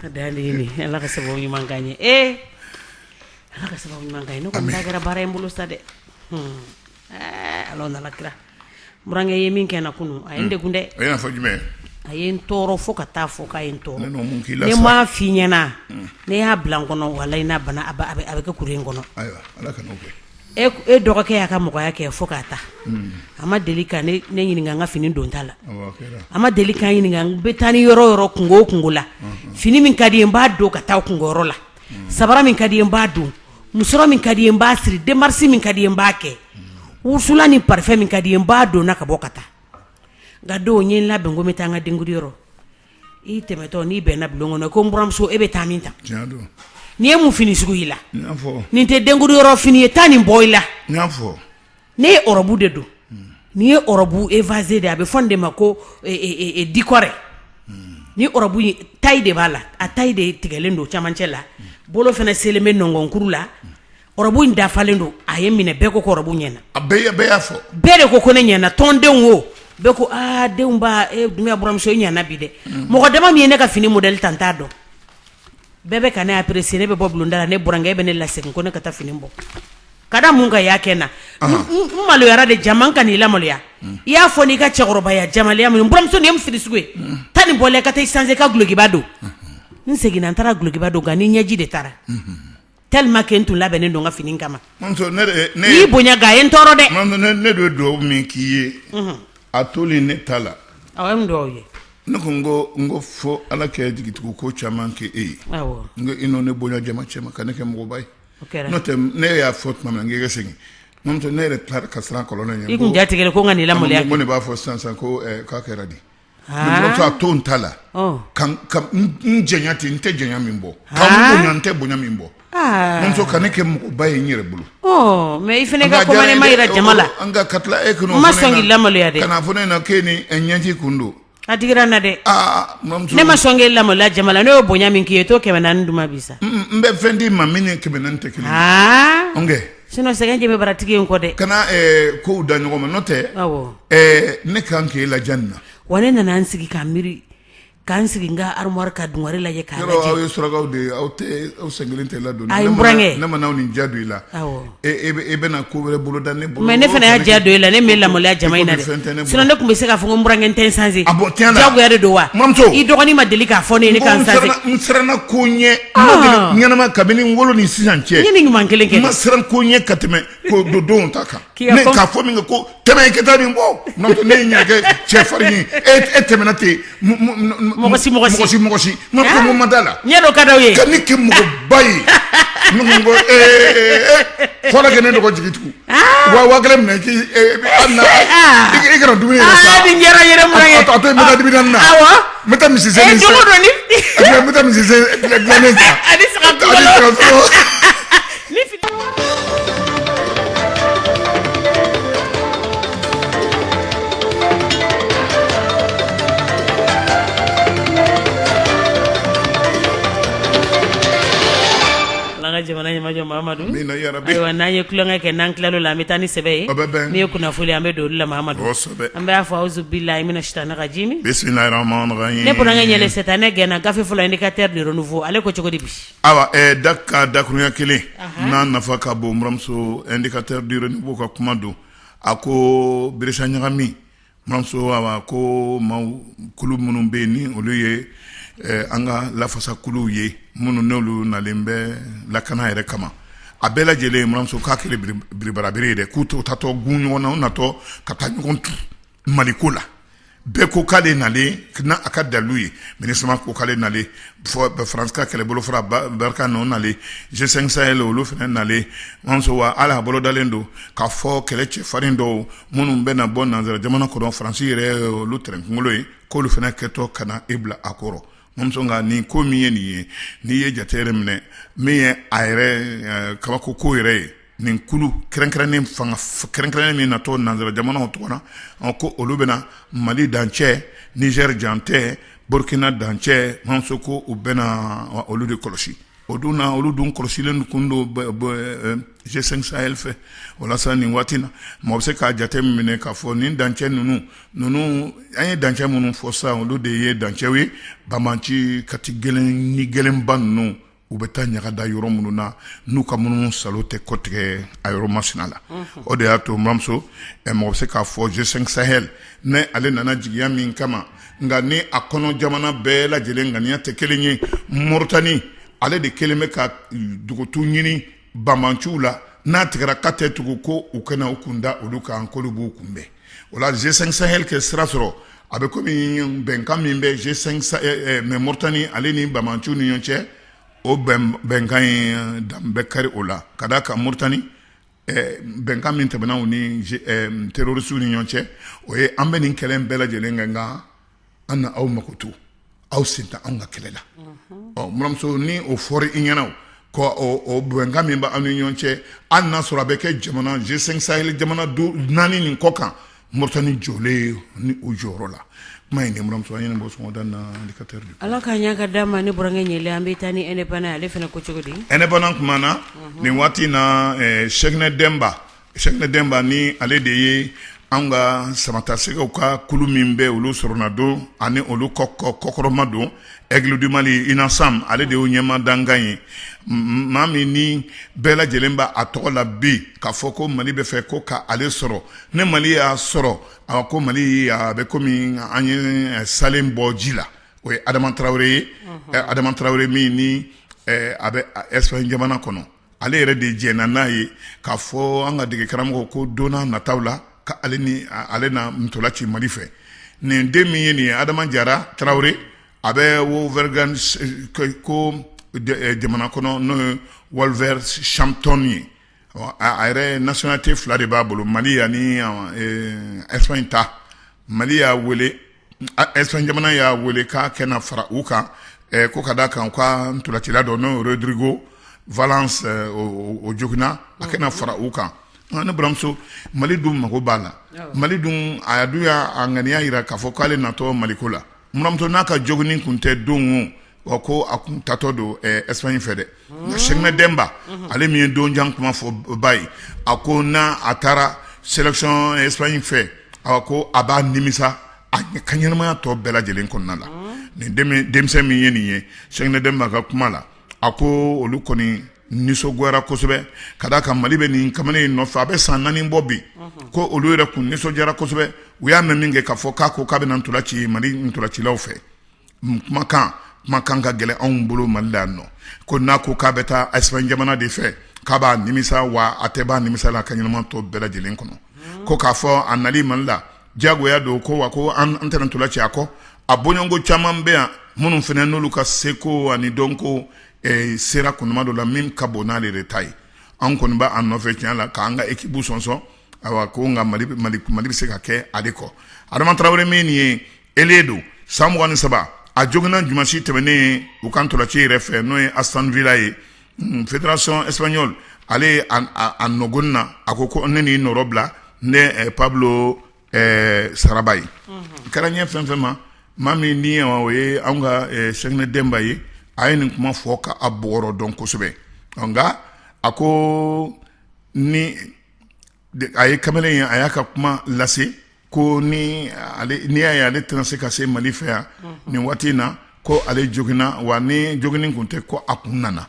A da ni ala ka sababu ɲuman k'an ye e ala ka sababu ɲuman k'an ye ne ko n da kɛra baara in bolo sa dɛ Ala n'a la kira n burankɛ ye min kɛ n na kunun a ye n degun dɛ a ye n tɔɔrɔ fo ka taa fɔ k'a ye n tɔɔrɔ ne m'a fɔ i ɲɛna ne y'a bila n kɔnɔ walayi a bɛ kɛ kuru in kɔnɔ e dɔgɔkɛ y'a ka mɔgɔya kɛ fo k'a ta a ma deli ka ne ɲininka n ka fini donta la a ma deli ka n ɲininka n bɛ taa ni yɔrɔ yɔrɔ kunko o kunko la fini min ka di n ye n b'a don ka taa kunko yɔrɔ la sabara min ka di n ye n b'a don musɔrɔ min ka di n ye n b'a siri démarche min ka di n ye n b'a kɛ wusulan ni parfum min ka di n ye n b'a don n na ka bɔ ka taa nka don n ye n labɛn ko n bɛ taa n ka denkundi yɔrɔ i tɛmɛtɔ n'i bɛnna bulon kɔnɔ ko n buranmuso e bɛ taa min ta nin ye mun fini sugu y'i la nin tɛ denkundi yɔrɔ fini ye taa nin bɔ i la Ne ye ɔrɔbu de don n'i ye ɔrɔbu évasé de a bɛ fɔ de ma ko dikɔrɛ ni ɔrɔbu in tayi de b'a la a tayi de tigɛlen don camancɛ la bolo fana selen bɛ nɔnkɔnkuru la ɔrɔbu in dafalen don a ye n minɛ bɛɛ ko k'ɔrɔbu ɲɛna a bɛɛ bɛɛ de ko ko ne ɲɛna tɔndenw wo bɛɛ ko aa denw buranmuso i ɲɛna bi dɛ mɔgɔ dama min ye ne ka fini modèle ta n t'a dɔn bɛɛ bɛ ka ne apprécier ne bɛ bɔ bulonda la ne burankɛ bɛ ne lasegin ko ne ka taa fini bɔ ka da mun kan a y'a kɛ n na n maloyara dɛ jama n kan'i lamaloya i y'a fɔ n'i ka cɛkɔrɔbaya jamalaya min buranmuso nin ye mun fini sugu ye taa nin bɔ i la ka taa i sanze ka glokiba don n seginna n taara glokiba don nka ni ɲɛji de taara tellement que n tun labɛnnen don n ka fini kama n'i bonya ga a ye n tɔɔrɔ dɛ ne don dugawu min k'i ye a toli ne ta la ye ne ko n ko n ko fɔ ala kɛ jigitigiw ko caman kɛ e ye n i ne bonya jama cɛma ka ne kɛ mɔgɔba ye N'o tɛ ne y'a fɔ tuma min n' segin ne yɛrɛ ka siran kɔlɔlɔ ɲɛ i kun jatigɛra ko ka ne b'a fɔ sisansan ko k'a kɛra di a to n ta la ka n jɔnya ten n tɛ jɔnya min bɔ ka n bonya n tɛ bonya min bɔ muso ka ne kɛ mɔgɔba ye n yɛrɛ bolo mɛ i fana ka commandement jira jama la k'e lamaloya dɛ kana fɔ ne ɲɛna k'e ni ɲɛji kun don A digira n na dɛ ne ma sɔn k'e lamaloya jama la ne y'o bonya min k'i ye to kɛmɛ naani di n ma bi sa n bɛ fɛn d'i ma min ni kɛmɛ naani tɛ kelen ye n kɛ sinon sɛgɛn ɲɛ bɛ baratigi in kɔ dɛ kana kow da ɲɔgɔn ma n'o tɛ ne kan k'i e la na wa ne nana n sigi ka miiri k'an sigi n ka armoire ka dungare lajɛ k'a lajɛ aw ye surakaw de ye aw aw sen kelen tɛ ladon n burankɛ ne ma na nin ja don i la E bɛna ko wɛrɛ bolo da ne bolo mais ne fana y'a diya don i la ne m'e lamaloya jama in na dɛ sinon ne tun bɛ se k'a fɔ ko n burankɛ n tɛ n sanse diyagoya de don wa i dɔgɔnin ma deli k'a fɔ ne ye ne ka n sanse n siranna ko ɲɛ ɲɛnama kabini n wolo ni sisan cɛ n ye nin ɲuman kelen kɛ n ma siran ko ɲɛ ka tɛmɛ ko don ta kan k'a fɔ min kɛ ko tɛmɛ ka taa nin bɔ n'o tɛ ne ye n yɛrɛ kɛ cɛfarin ye e e tɛmɛna ten mɔgɔ si mɔgɔ si mɔgɔ si n ka ko ma da la ɲɛ dɔ ka da ye ka ne kɛ mɔgɔba ye n ko ee fɔlɔ kɛ ne dɔgɔ jigi tigɛ wa wa kelen minɛ k'i i kana dumuni yɛrɛ san nin kɛra yɛrɛ mun ye a to yen n bɛ taa Dibidani na awɔ n bɛ taa misisennin san n bɛ taa misisen dilannen san ani saga Ala ka jamana ɲɛmajɔ Mahamadu amina yarabi ayiwa n'an ye tulonkɛ kɛ n'an tilal'o la an bɛ taa ni sɛbɛ ye o bɛ bɛn n'i ye kunnafoni an bɛ don olu la Mahamadu kosɛbɛ an b'a fɔ awuzubila mina sitana rajimi bisimilahi rahamani rahimi ne burankɛ Ɲɛlɛ sitanɛ gɛnna gafe fɔlɔ indicateur du renouveau ale ko cogo di bi Ayiwa ɛɛ da ka dakuruɲɛ kelen, anhan, n'a nafa ka bon buranmuso indicateur du renouveau ka kuma don, a ko birisa ɲagami, buranmuso awa ko maaw kulu minnu bɛ yen ni olu ye an ka lafasakuluw ye minnu n'olu nalen bɛ lakana yɛrɛ kama, a bɛɛ lajɛlen buranmuso k'a kɛlen don biribarabere ye dɛ, k'u t'u taatɔ gun ɲɔgɔn na, u natɔ ka taa ɲɔgɔn tu mali ko la bɛɛ ko k'ale nalen n'a ka dalilu ye Minusma ko k'ale nalen faransi ka kɛlɛbolo fara Barkhane o nalen G5 Sahel olu fana nalen buranmuso wa a labolodalen don k'a fɔ kɛlɛ cɛfarin dɔw minnu bɛna bɔ nanzara jamana kɔnɔ faransi yɛrɛ olu tɛrɛn kunkolo ye k'olu fana kɛtɔ ka na i bila a kɔrɔ buranmuso nka nin ko min ye nin ye n'i ye jate yɛrɛ minɛ min ye a yɛrɛ kabako ko yɛrɛ ye nin kulu kɛrɛnkɛrɛnnen fanga kɛrɛnkɛrɛnnen min natɔ nanzara jamanaw tɔgɔ la ko olu bɛna na mali dancɛ nizɛri dancɛ burukina dancɛ buranmuso ko u bɛna olu de kɔlɔsi o don na olu dun kɔlɔsilen tun don G5 Sahel fɛ walasa nin waati na maa bɛ se k'a jate min minɛ k'a fɔ nin dancɛ ninnu ninnu an ye dancɛ minnu fɔ sa olu de ye dancɛ ye banbaanci kati gɛlɛn ni gɛlɛnba ninnu u bɛ taa ɲaga da yɔrɔ minnu na n'u ka munumunu saalo tɛ kɔtigɛ a yɔrɔ masina la o de y'a to buranmuso mɔgɔ bɛ se k'a fɔ G5 Sahel nin ale nana jigiya min kama nka ni a kɔnɔ jamana bɛɛ lajɛlen ŋaniya tɛ kelen ye Moritani ale de kelen bɛ ka dugutu ɲini banbanciw la n'a tigɛra ka tɛ tugu ko u kana u kun da olu kan k'olu b'u kunbɛn o la G5 Sahel kɛ sira sɔrɔ a bɛ komi bɛnkan min bɛ G5 Mauritanie ale ni banbanciw ni ɲɔgɔn cɛ o bɛnkan in dan bɛ kari o la ka d'a kan Mauritanie bɛnkan min tɛmɛna u ni terroristes ni ɲɔgɔn cɛ o ye an bɛ nin kɛlɛ in bɛɛ lajɛlen kɛ nka an na aw mako to aw sen tɛ anw ka kɛlɛ la buramuso ni o fɔra i ɲɛna ko o bɛnkan min bɛ aw ni ɲɔgɔn cɛ a n'a sɔrɔ a bɛ kɛ jamana G5 Sahel jamana tɔ naani nin kɔ kan Mauritanie jɔlen ni o jɔyɔrɔ la kuma in buramuso an bɔ sɔnda na Indicateur de ala ka ɲa ka d'a ma ne burankɛ ɲɛlɛ an bɛ taa ni Indépendant ale fana ko cogo di Indépendant kumana nin waati in na Cheikhnɛ denba Cheikhnɛ denba ni ale de ye an ka samatasɛgɛw ka kulu min bɛ olu sɔrɔnadon ani olu kɔkɔrɔmadon Aigles du Mali UNASAM ale de y'o ɲɛmaa dankan ye maa min ni bɛɛ lajɛlen b'a a tɔgɔ la bi k'a fɔ ko mali bɛ fɛ ko ka ale sɔrɔ ni mali y'a sɔrɔ awa ko mali a bɛ kɔmi an ye salen bɔ ji la o ye adama tarawele ye adama tarawele min ni a bɛ Espagne jamana kɔnɔ ale yɛrɛ de jɛnna n'a ye k'a fɔ an ka dege karamɔgɔ ko don nataw la ka ni ale na ntola ci mali fɛ nin den min ye nin ye adama jara tarawele a bɛ Wolverhampton ko jamana kɔnɔ n'o ye Wolverhampton ye a yɛrɛ nationalité fila de b'a bolo mali ani Espagne ta mali y'a wele Espagne jamana y'a weele k'a kɛ na fara u kan ko ka d'a kan u ka ntolacila dɔn n'o ye Rodrigo Valence o joginna a kɛ na fara u kan ne buramuso mali dun mago b'a la mali dun a dun y'a ŋaniya yira k'a fɔ k'ale natɔ maliko la buramuso n'a ka jogini kun tɛ don Wa ko a kun taatɔ don Espagne fɛ dɛ nka Cheikhnɛ denba ale min ye donjan kuma fɔ ba ye a ko n' a taara sélection Espagne fɛ a ko a b'a nimisa a ka ɲɛnamaya tɔ bɛɛ lajɛlen kɔnɔna la nin denmisɛn min ye nin ye Cheikhnɛ denba ka kuma la a ko olu kɔni nisɔngoyara kosɛbɛ ka d'a kan mali bɛ nin kamalen in nɔfɛ a bɛ san naani bɔ bi ko olu yɛrɛ kun nisɔndiyara kosɛbɛ u y'a mɛn min kɛ k'a fɔ k'a ko k'a bɛna ntola ci mali ntolacilaw fɛ kumakan kumakan ka gɛlɛn anw bolo mali la yan nɔ ko n'a ko k'a bɛ taa Espagne jamana de fɛ k'a b'a nimisa wa a tɛ b'a nimisa la ka ɲɛnama tɔ bɛɛ lajɛlen kɔnɔ ko k'a fɔ a nali mali la diyagoya don ko wa ko an tɛna ntola ci a kɔ a bɔɲɔgɔnko caman bɛ yan minnu fana n'olu ka seko ani dɔnko eh, sera kundama dɔ la min ka bon n'ale de ta ye an kɔni b'a nɔfɛ tiɲɛ la k'an ka ekibu sɔnsɔn ko nka mali bɛ se ka kɛ ale kɔ adama tarawele min nin ye ailier don san mugan ni saba a joginna dimansi tɛmɛnen u ka ntolaci yɛrɛ fɛ n'o ye aston villa ye fédération espagnole ale a nɔgɔ na a ko ko ne ni nɔrɔ bila ni pablo sarabia ye kɛra ɲɛ fɛn fɛn ma maa min ni o ye an ka sɛgɛnɛ denba ye a ye nin kuma fɔ k'a bɔkɔlɔ dɔn kosɛbɛ nka a ko ni a ye kamalen ye a y'a ka kuma lase ko ni n'i y'a ye ale tɛna se ka se mali fɛ yan nin waati in na ko ale joginna wa ni jogin tun tɛ ko a kun nana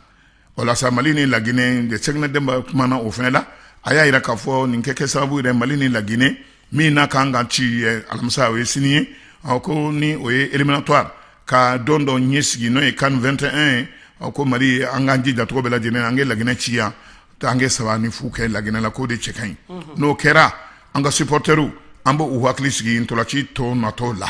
o la sa mali ni laginɛ de sɛgɛnɛ denba kuma na o fana la a y'a jira k'a fɔ nin kɛ kɛ sababu yɛrɛ mali ni laginɛ min na ka kan ka ci alamisa o ye sini ye a ko ni o ye éliminatoire ka don dɔ ɲɛ sigi n'o ye can vingt et un ye a ko mali an k'an jija cogo bɛɛ lajɛlen an ka laginɛ ci yan to an ka saba ni fu kɛ laginɛ la k'o de cɛ ka ɲi n'o kɛra an ka supporterw an b' u hakili sigi ntolacitɔn natɔ la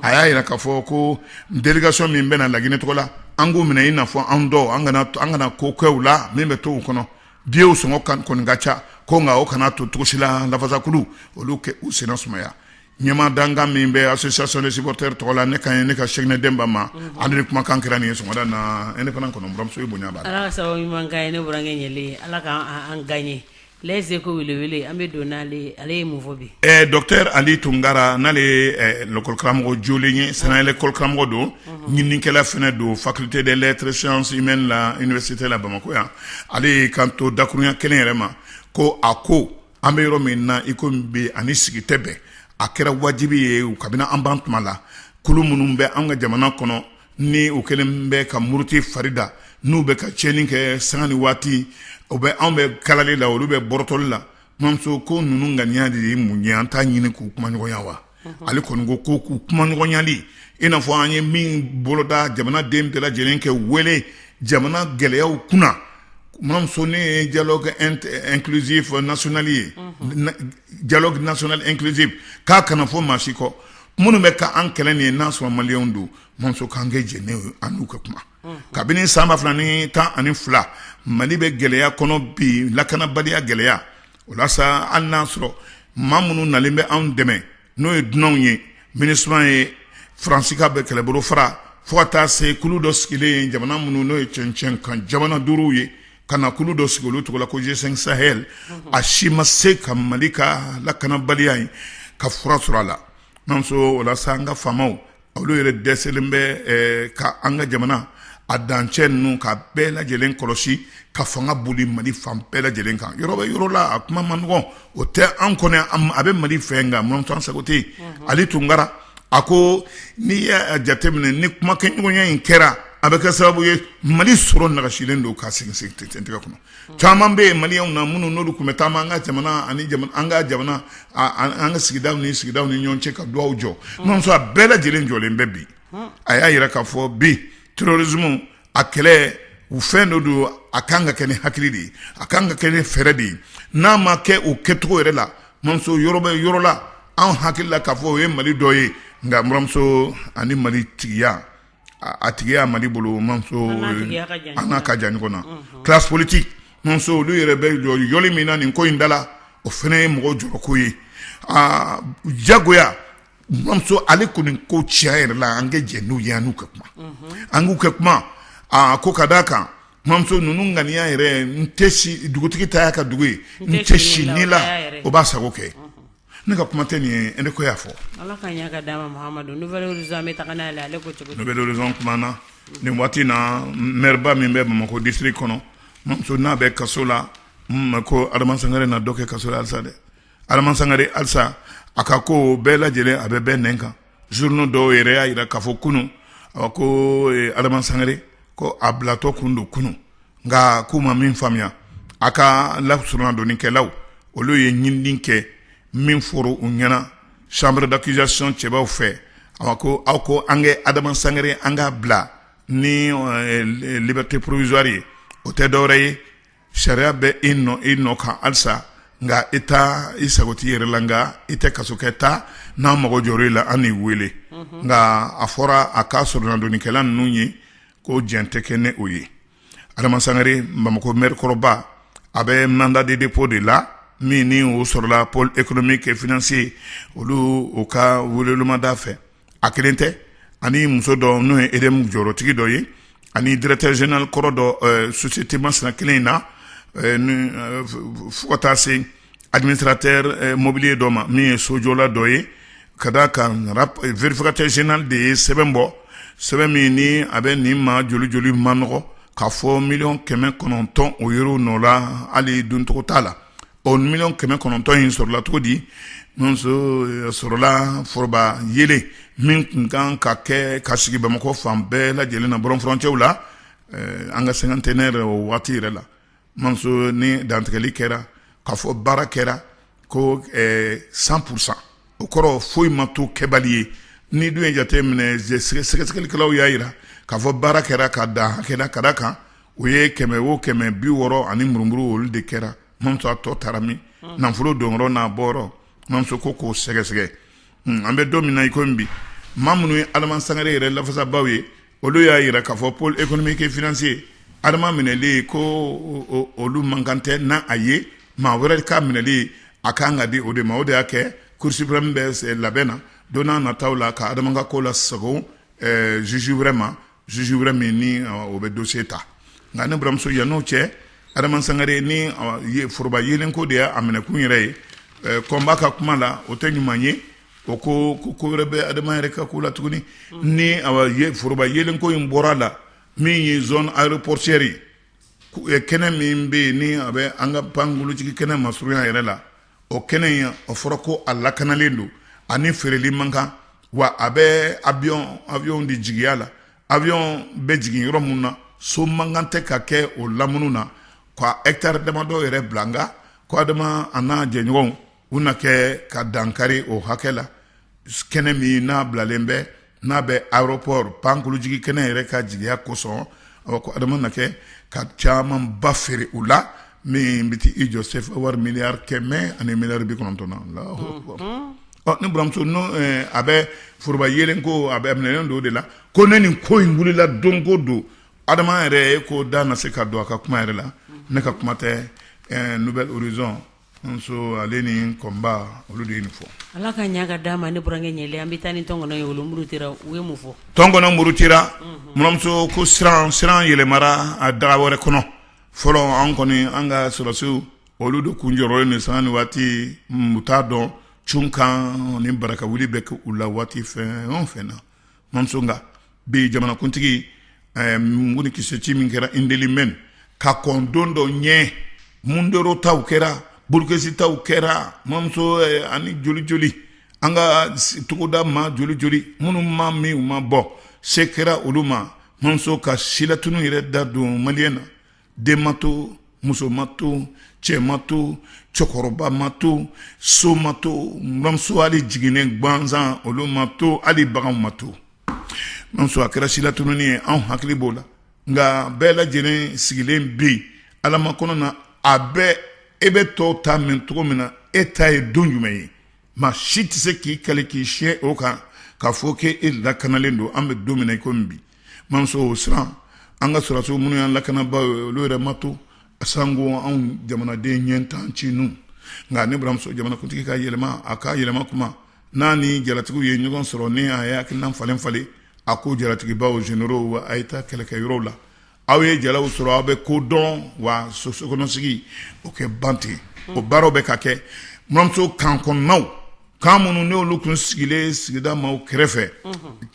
a y'a jira k'a fɔ ko délégation min bɛna na laginɛ tɔgɔ la an k'u minɛ i n'a fɔ an dɔw an an kana ko kɛw la min bɛ to u kɔnɔ biyew sɔngɔ kɔni ka ca ko nka o kana to cogo si la lafasakulu olu ka u sen sumaya ɲɛmaa dankan min bɛ association des supporters tɔgɔ la ne ka ye ne kan sɛgɛnɛ denba ma ale de kumakan kɛra nin ye sɔgɔmada na ne fana buranmuso bonya échos wele an bɛ don ale docteur ali tunkara n'ale ye lakɔli karamɔgɔ jɔlen ye sanfɛ lakɔli karamɔgɔ don ɲininikɛla fana don faculté des lettres sciences humaines la université la bamakɔ yan ale y'i kan to dakurunɲɛ kelen yɛrɛ ma ko a ko an bɛ yɔrɔ min na i ko bi an ni sigi tɛ bɛn a kɛra wajibi ye kabini an ban tuma la kulu minnu bɛ an ka jamana kɔnɔ ni u kɛlen bɛ ka muruti farida n'u bɛ ka cɛni kɛ sanga ni waati bɛɛ anw bɛ kalali la olu bɛ bɔrɔtɔli la mamuso ko ninnu ŋaniya de ye mun ye an t'a ɲini k'u kumaɲɔgɔnya wa ale kɔni ko ko k'u kumaɲɔgɔnyali i n'a fɔ an ye min boloda jamana den bɛɛ lajɛlen kɛ wele jamana gɛlɛyaw kunna mamuso n'o ye dialogue inclusif national ye dialogue national inclusif k'a kana fɔ maa si kɔ minnu bɛ ka an kɛlɛ nin ye n'a sɔrɔ maliyɛn don mamuso k'an ka jɛn n'a ye an n'u ka kuma kabini san ba fila ni tan ani fila mali bɛ gɛlɛya kɔnɔ bi lakanabaliya gɛlɛya o la sa hali n'a sɔrɔ maa minnu nalen bɛ anw dɛmɛ n'o ye dunanw ye minusma ye faransi ka bɛ kɛlɛbolo fara fo ka taa se kulu dɔ sigilen jamana minnu n'o ye cɛncɛn kan jamana duuruw ye ka na kulu dɔ sigi olu tɔgɔ la ko g5 sahel a si ma se ka mali ka lakanabaliya in ka fura sɔrɔ a la mamuso o la sa an ka faamaw olu yɛrɛ dɛsɛlen bɛ ka an ka jamana a dancɛ ninnu ka bɛɛ lajɛlen kɔlɔsi ka fanga boli mali fan bɛɛ lajɛlen kan yɔrɔ bɛ yɔrɔ la a kuma man nɔgɔn o tɛ an kɔni a bɛ mali fɛ nka mamuso an sago tɛ ali tunkara a ko n'i y'a jateminɛ ni kuma kɛ ɲɔgɔnya in kɛra a bɛ kɛ sababu ye mali sɔrɔ nagasilen don ka sigi sigi tigɛ kɔnɔ caman bɛ yen maliyɛnw na minnu n'olu tun bɛ taama an ka jamana an ka jamana an ka sigidaw ni sigidaw ni ɲɔgɔn cɛ ka dugawu jɔ mamuso a bɛɛ lajɛlen jɔlen bɛ bi a y'a jira k'a fɔ bi terrorisme a kɛlɛ u fɛn dɔ don a ka kan ka kɛ ni hakili de ye a ka kan ka kɛ ni fɛɛrɛ de ye n'a ma kɛ o kɛcogo yɛrɛ la mamuso yɔrɔ bɛ yɔrɔ la an hakili la k'a fɔ o ye mali dɔ ye nka baramuso ani mali tigiya a tigiya mali bolo an n'a ka jan ɲɔgɔn na classe politique mamuso olu yɛrɛ bɛ jɔli min na nin ko in da la o fɛnɛ ye mɔgɔ jɔrɔko ye aa jagoya Mamuso ale kɔni ko cɛ yɛrɛ la an ka jɛ n'u ye n'u ka kuma an k'u kɛ kuma aa ko ka d' a kan mamuso ninnu ŋaniya yɛrɛ n tɛ dugutigi ta y'a ka dugu ye n tɛ si ni la o b'a sago kɛ ne ka kuma tɛ nin ye e ne ko y'a fɔ na nin waati na m min bɛ bamakɔ disiri kɔnɔ n'a bɛ kaso la ko adamaz na dɔ kɛ kaso alisa dɛ Adama Sangare halisa a ka kow bɛɛ lajɛlen a bɛ bɛɛ nɛn kan journaux dɔw yɛrɛ y'a jira k'a fɔ kunun ko Adama Sangare ko a bilatɔ tun don kunun nka k'u ma min faamuya a ka soronadonnikɛlaw olu ye ɲinini kɛ min fɔra u ɲɛna chambre d'accusation cɛbaw fɛ a ko aw ko an kɛ Adama Sangare an k'a bila ni liberté provisoire ye o tɛ dɔwɛrɛ ye Sariya bɛ i nɔ i nɔ kan halisa nka i taa i sago t'i yɛrɛ la nka i tɛ kaso kɛ ta n'an mago jɔr'i la an n'i weele nka a fɔra a ka sɔrɔnadonnikɛla ninnu ye ko jɛn tɛ kɛ ni o ye adama sangare bamakɔ maire kɔrɔba a bɛ mandat de dépôt de la min ni o sɔrɔla pôle économique et financier olu u ka wele mandat fɛ a kelen tɛ ani muso dɔ n'o ye EDM jɔyɔrɔtigi dɔ ye ani directeur général kɔrɔ dɔ société Masina kelen in na fo ka taa se administrateur mobilier dɔ ma min ye sojɔla dɔ ye ka da a kan vérificateur général de ye sɛbɛn bɔ sɛbɛn min ni a bɛ nin ma joli joli manɔgɔ k'a fɔ miliyɔn kɛmɛ kɔnɔntɔn o yɛrɛ nɔ la hali dɔncogo t'a la O miliyɔn kɛmɛ kɔnɔntɔn in sɔrɔla cogo di mamuso sɔrɔla foroba yeelen min tun kan ka kɛ ka sigi bamakɔ fan bɛɛ lajɛlen na bɔlɔn furancɛw la an ka cinquantenaire o waati yɛrɛ la mamuso ni dantigɛli kɛra k'a fɔ baara kɛra ko cent pour cent o kɔrɔ foyi ma to kɛbali ye ni dun ye jate minɛ sɛgɛsɛgɛlikɛlaw y'a jira k'a fɔ baara kɛra ka dan hakɛ la ka d'a kan u ye kɛmɛ o kɛmɛ bi wɔɔrɔ ani murumuru olu de kɛra mamuso tɔ taara min nafolo don n'a bɔ mamuso ko k'o sɛgɛsɛgɛ an bɛ don min na i ko bi maa minnu ye adama sangare yɛrɛ lafasabaaw ye olu y'a jira k'a fɔ pôle économique et financier ka adama minɛli ko olu man kan tɛ n' a ye maa wɛrɛ ka minɛli a ka kan ka di o de ma o de y'a kɛ cour suprême bɛ labɛn na don na nataw la ka adama ka ko lasagon juge wɛrɛ ma Juge wɛrɛ min ni o bɛ dossier ta nka ne buranmuso yan n'o cɛ Adama Sangare ni foroba yeelenko de y'a minɛkun yɛrɛ ye Combat ka kuma la o tɛ ɲuman ye o kɔ ko wɛrɛ bɛ Adama yɛrɛ ka ko la tuguni ni foroba yeelenko in bɔra a la min ye zone aéroportuaire ye kɛnɛ min bɛ yen ni a bɛ an ka pankurunjigi kɛnɛ masurunya yɛrɛ la o kɛnɛ in o fɔra ko a lakanalen don ani feereli man kan wa a bɛ awiyɔn awiyɔn de jigiya la awiyɔn bɛ jigin yɔrɔ min na so man kan tɛ ka kɛ o lamunu na ka hectare damadɔ yɛrɛ bila nka ko adama an'a jɛɲɔgɔnw u na kɛ ka dankari o hakɛ la kɛnɛ min n'a bilalen bɛ n'a bɛ aéroport pankurunjigi kɛnɛ yɛrɛ ka jigiya kosɔn a ko adama na kɛ ka camanba feere u la min bɛ i jɔ sefa wari miliyari kɛmɛ ani miliyari bi kɔnɔntɔn na ne buranmuso a bɛ foroba yeelenko a bɛ minɛlen don o de la ko ne nin ko in wulila don ko don adama yɛrɛ ko da na se ka don a ka kuma yɛrɛ la ne ka kuma tɛ nouvel horizon Mamuso ale ni Combat olu de ye nin fɔ Ala ka ɲa ka d'a ma ne burankɛ ɲɛlɛ. An bi taa ni tɔnkɔnɔ ye olu murutira u ye mun fɔ? Tɔnkɔnɔ murutira buranmuso ko siran siran yɛlɛmara a daga wɛrɛ kɔnɔ. Fɔlɔ anw kɔni an ka sɔrɔdasiw olu de tun jɔrɔlen don sanga ni waati u t'a dɔn cunkanni barakawuli bɛ kɛ u la waati fɛn o fɛn na. mamuso nka bi jamanakuntigi eh, mugu ni kisɛ ci min kɛra indelimɛn ka kɔn don dɔ ɲɛ mundoro taw kɛra burukesi taw kɛra mamuso eh, ani joli joli an ka togodamaa joli joli minnu ma min u ma bɔ se kɛra olu ma mamuso ka silatunu yɛrɛ da don maliyɛn na den ma to muso ma to cɛ ma to cɛkɔrɔba ma to so ma to mamuso hali jiginnen gansan olu ma to hali bagan ma to mamuso a kɛra silatununi ye anw hakili b'o la nka bɛɛ lajɛlen sigilen bɛ yen ala makɔnɔ na a bɛɛ e bɛ tɔw ta mɛn cogo min na e ta ye don jumɛn ye maa si tɛ se k'i kali k'i siɲɛ o kan k'a fɔ k'e e lakanalen don an bɛ don min na i ko bi Mamuso o siran an ka sɔrɔsiw minnu y'an lakanabaaw ye olu yɛrɛ ma to sanko anw jamanaden ɲɛntan ci ninnu nka ne baramuso jamanakuntigi ka yɛlɛma a ka yɛlɛma kuma n'a ni jalatigiw ye ɲɔgɔn sɔrɔ ni a ye hakilina falen falen a ko jalatigibaw généraux a ye taa kɛlɛkɛyɔrɔ la aw ye jalaw sɔrɔ aw bɛ ko dɔn wa sokɔnɔsigi o kɛ ban ten o baaraw bɛ ka kɛ baramuso kan kɔnɔnaw Kan minnu ni olu tun sigilen sigida maaw kɛrɛfɛ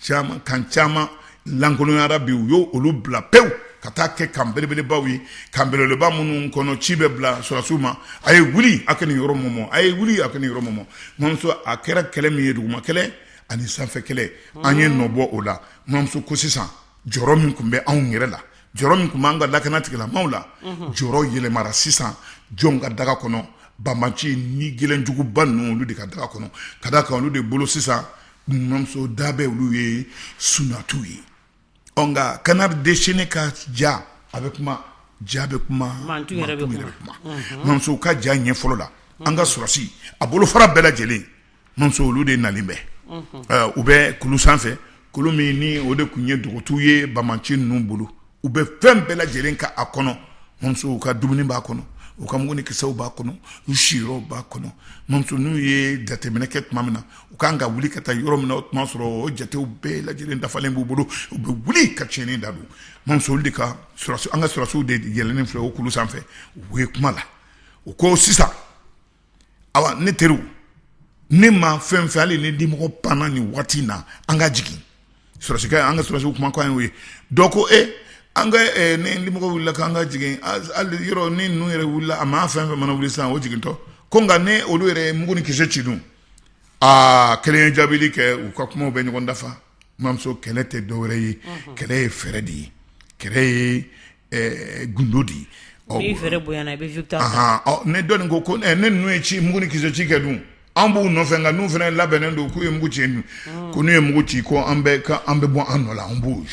caman kan caman lankolonyara bi u y' olu bila pewu ka taa kɛ kan belebelebaw ye kan belebeleba minnu kɔnɔ ci bɛ bila sɔrɔsiw ma a ye wuli a ka nin yɔrɔ mɔmɔ a ye wuli a ka nin yɔrɔ mɔmɔ mamuso a kɛra kɛlɛ min ye duguma kɛlɛ ani sanfɛ kɛlɛ an ye nɔ bɔ o la mamuso ko sisan jɔrɔ min tun bɛ anw yɛrɛ la jɔrɔ min tun b'an ka lakanatigilamaaw la, unhun, jɔrɔ yɛlɛmara sisan jɔn ka daga kɔnɔ banbaanci ni gɛlɛnjuguba ninnu olu de ka daga kɔnɔ ka d'a kan olu de bolo sisan numuyamuso da bɛ olu ye sunatiw ye ɔ nka canard déchaîné ka ja a bɛ kuma ja bɛ kuma mantu yɛrɛ bɛ kuma numuyamuso ka ja ɲɛ fɔlɔ la an ka sɔrɔsi a bolofara bɛɛ lajɛlen olu de nalen bɛ u bɛ kulu sanfɛ kulu min ni o de tun ye dugutigi ye banbaanci ninnu bolo u bɛ fɛn bɛɛ lajɛlen ka a kɔnɔ u ka dumuni b'a kɔnɔ u ka mugu ni kisɛw b'a kɔnɔ u siyɔrɔw b'a kɔnɔ n'u ye jateminɛ kɛ tuma min na u ka kan ka wuli ka taa yɔrɔ min na o tuma sɔrɔ o jatew bɛɛ lajɛ lajɛlen dafalen b'u bolo u bɛ wuli ka cɛnni da don mamuso olu de ka an ka sɔrɔsiw de yɛlɛlen filɛ o kulu sanfɛ u ye kuma la u ko sisan awa ne teriw ne ma fɛn fɛn hali ni dimɔgɔ panna nin waati in na an k'a jigin sɔrɔsikɛ an ka sɔrɔsi kuma ye ye dɔ ko e an ka ni dimɔgɔ wulila k'an k'a jigin yɔrɔ ni ninnu yɛrɛ wilila a ma fɛn fɛn mana wuli sisan o jigintɔ ko nka ne olu yɛrɛ ye mugu ni kisɛ ci dun aa kelen ye jaabili kɛ u ka kuma bɛ ɲɔgɔn dafa mamuso kɛlɛ tɛ dɔwɛrɛ ye kɛlɛ ye fɛɛrɛ de ye kɛlɛ ye gundo de ye ne dɔn ko ko ne n'u ye ci mugu ni kisɛ ci kɛ dun an b'u nɔfɛ nka n'u fana labɛnnen don k'u ye mugu ci dun ko n'u ye mugu ci ko an bɛ an bɛ bɔ an nɔ la an b'o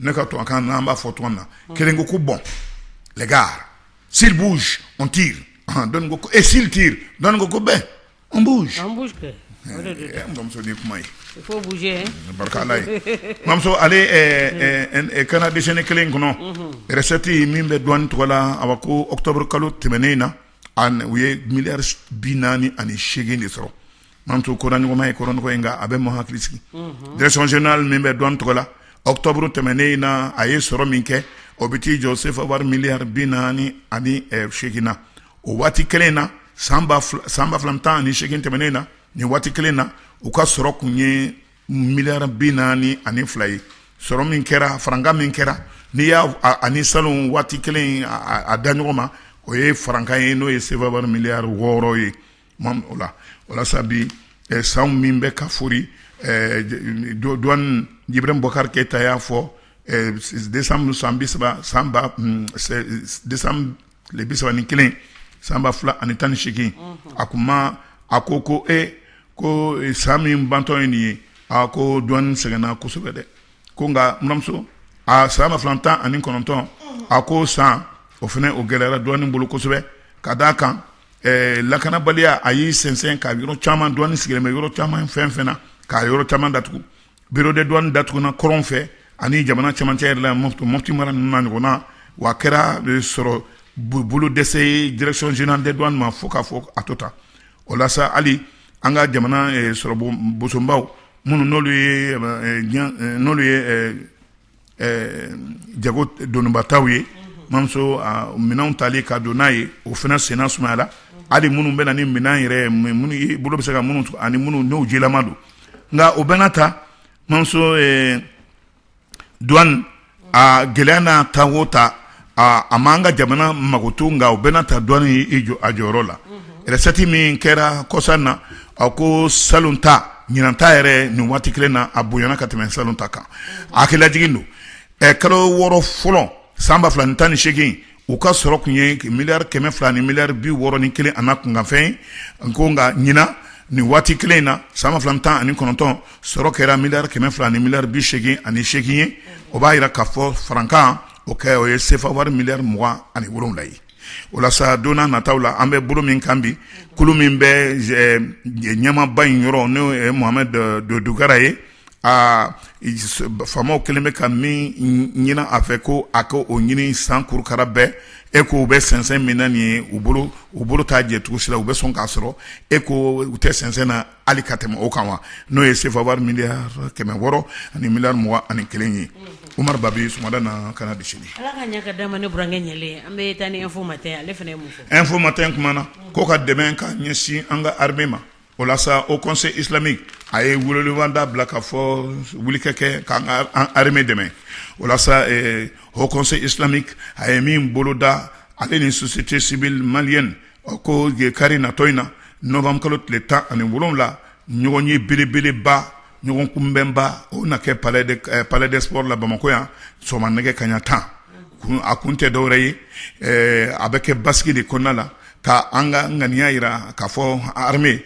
ne ka to kan an b'a fɔ tɔn na kelen ko ko bon les gars s'ils bougent on tire dɔ ko et s'ils tirent dɔ ko ko ben On bouge mamuso ni kuma ye barika mamuso ale canard déchaîné kelen in kɔnɔ recette min bɛ douane tɔgɔ la awa ko octobre kalo tɛmɛnen in na u ye milliard bi naani ani seegin de sɔrɔ mamuso ko ɲɔgɔn ma ye kɔrɔ ko nka a bɛ mɔgɔ hakili sigi direction générale min bɛ douane tɔgɔ la octobre tɛmɛnen in na a ye sɔrɔ min kɛ o bɛ t'i jɔ sefa wari milliard bi naani ani seegin na o waati kelen in na san ba fila tan ani segin tɛmɛnen na nin waati kelen in na u ka sɔrɔ tun ye miyari bi naani ani fila ye sɔrɔ min kɛra farankan min kɛra n'i y'a ani salon waati kelen a da ɲɔgɔn ma o ye farankan ye n'o ye sefa wari miyari wɔɔrɔ ye Ma o la sa bi san min bɛ ka foori duwani ibrahim bubakari keyita y'a fɔ desanburu tile bi saba ni kelen san ba fila ani tan ni segin a kuma a ko ko e ko san min bantɔ in nin ye a ko duwani sɛgɛnna kosɛbɛ dɛ ko nka mamuso aa san ba fila ni tan ani kɔnɔntɔn a ko san o fana o gɛlɛyara duwani bolo kosɛbɛ ka d' a kan ɛɛ lakanabaliya a y'i sɛnsɛn ka yɔrɔ caman duwani sigilen bɛ yɔrɔ caman fɛn fɛn na ka yɔrɔ caman datugu bureau des douanes datuguna kɔrɔn fɛ ani jamana cɛmancɛ yɛrɛ la Mopti mara ninnu na ɲɔgɔn na, wa a kɛra sɔrɔ bolo dɛsɛ ye direction generale des douanes ma fo k'a fɔ a to tan, o la sa hali an ka jamana sɔrɔ bɔsunbaw minnu n'olu ye jago donibataw ye mamuso minɛn tali ka don n'a ye o fana senna sumayara hali minnu bɛ na ni minɛn yɛrɛ minnu bolo bɛ se ka minnu ani minnu n'o jilama don nka o bɛɛ n'a ta mamuso duwani a gɛlɛya n'a ta o ta aaa a ma an ka jamana makutu nka o bɛɛ n'a ta duwani y'i jɔ a jɔyɔrɔ la resɛti min kɛra kɔsa in na a ko salon ta ɲinan ta yɛrɛ nin waati kelen na a bonyana ka tɛmɛ salon ta kan a hakililajigin don ɛ kalo wɔɔrɔ fɔlɔ san ba fila ni tan ni segin u ka sɔrɔ tun ye miyari kɛmɛ fila ni miyari bi wɔɔrɔ ni kelen an'a kunkanfɛn n ko nka ɲinan nin waati kelen in na san ba fila tan ani kɔnɔntɔn sɔrɔ kɛra miyari kɛmɛ fila ni miyari bi segin ani segin ye o b'a jira ka fɔ farankan o kɛ o ye sefa wari miyari mugan ani wolonwula ye o la sa don nataw la an bɛ bolo min kan bi kulu min bɛ ɲɛmaba in yɔrɔ n'o ye mahamɛdi dukara ye aa faamaw kɛlen bɛ ka min ɲini a fɛ ko a ka o ɲini san kurukara bɛɛ e ko u bɛ sɛnsɛn min na ni u bolo u bolo t'a jɛ cogo si la u bɛ sɔn k'a sɔrɔ e ko u tɛ sɛnsɛn na hali ka tɛmɛ o kan wa n'o ye sefa wari miyari kɛmɛ wɔɔrɔ ani miyari mugan ani kelen ye umaru ba bɛ sumada na kanada sini ala ka ɲɛ ka da ne burankɛ ɲɛ an bɛ taa ni info matin ale fana info matin kumana ko ka dɛmɛ ka ɲɛsin an ka armée ma o la sa haut conseil islamique a ye weleweleda bila ka fɔ wulikɛ kɛ ka armée dɛmɛ o la sa haut conseil islamique a ye min boloda ale ni société civile malienne A ko nin ye kari natɔ in na nowanburu kalo tile tan ani wolowula ɲɔgɔn ye belebeleba ɲɔgɔn kunbɛnba o na kɛ palais des sports la bamakɔ yan sɔgɔma nɛgɛ kaɲa tan a kun tɛ dɔwɛrɛ ye a bɛ kɛ basigi de kɔnɔna la ka an ka ŋaniya jira k'a fɔ armée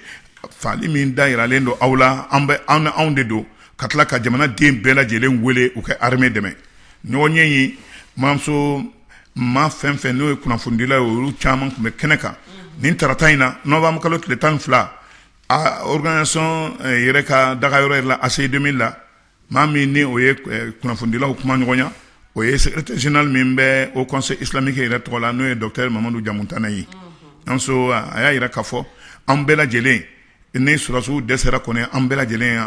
faali min da jiralen don aw la an bɛ an anw de don ka tila ka jamana den bɛɛ lajɛlen wele u kɛ armée dɛmɛɲɔgɔn ye in mamuso maa fɛn o fɛn n'o ye kunnafonidila ye olu caman tun bɛ kɛnɛ kan nin tarata in na nowanburu kalo tile tan ni fila organisation yɛrɛ ka daga yɔrɔ yɛrɛ la ACI deux mille la maa min ni o ye kunnafonidilaw kuma ɲɔgɔnya o ye secrétaire général min bɛ haut conseil islamique yɛrɛ tɔgɔ la n'o ye docteur mamadu jamutani ye an a y'a jira k'a fɔ an bɛɛ lajɛlen ni susiw dɛsɛsara kɔnɔ an bɛɛ lajɛlen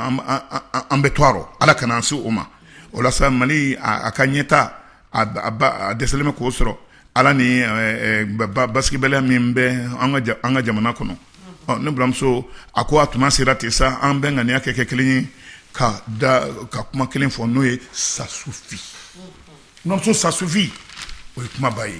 an bɛ to ala ka an se o ma o mali a ka ɲɛ taa a dɛsɛlen bɛ k'o sɔrɔ ala ni basigibaliya min bɛ an ka jamana kɔnɔ ne baramuso a ko a tuma sera ten sa an bɛɛ ŋaniya ka kɛ kelen ye ka da ka kuma kelen fɔ n'o ye ça suffit n muso ça suffit o ye kumaba ye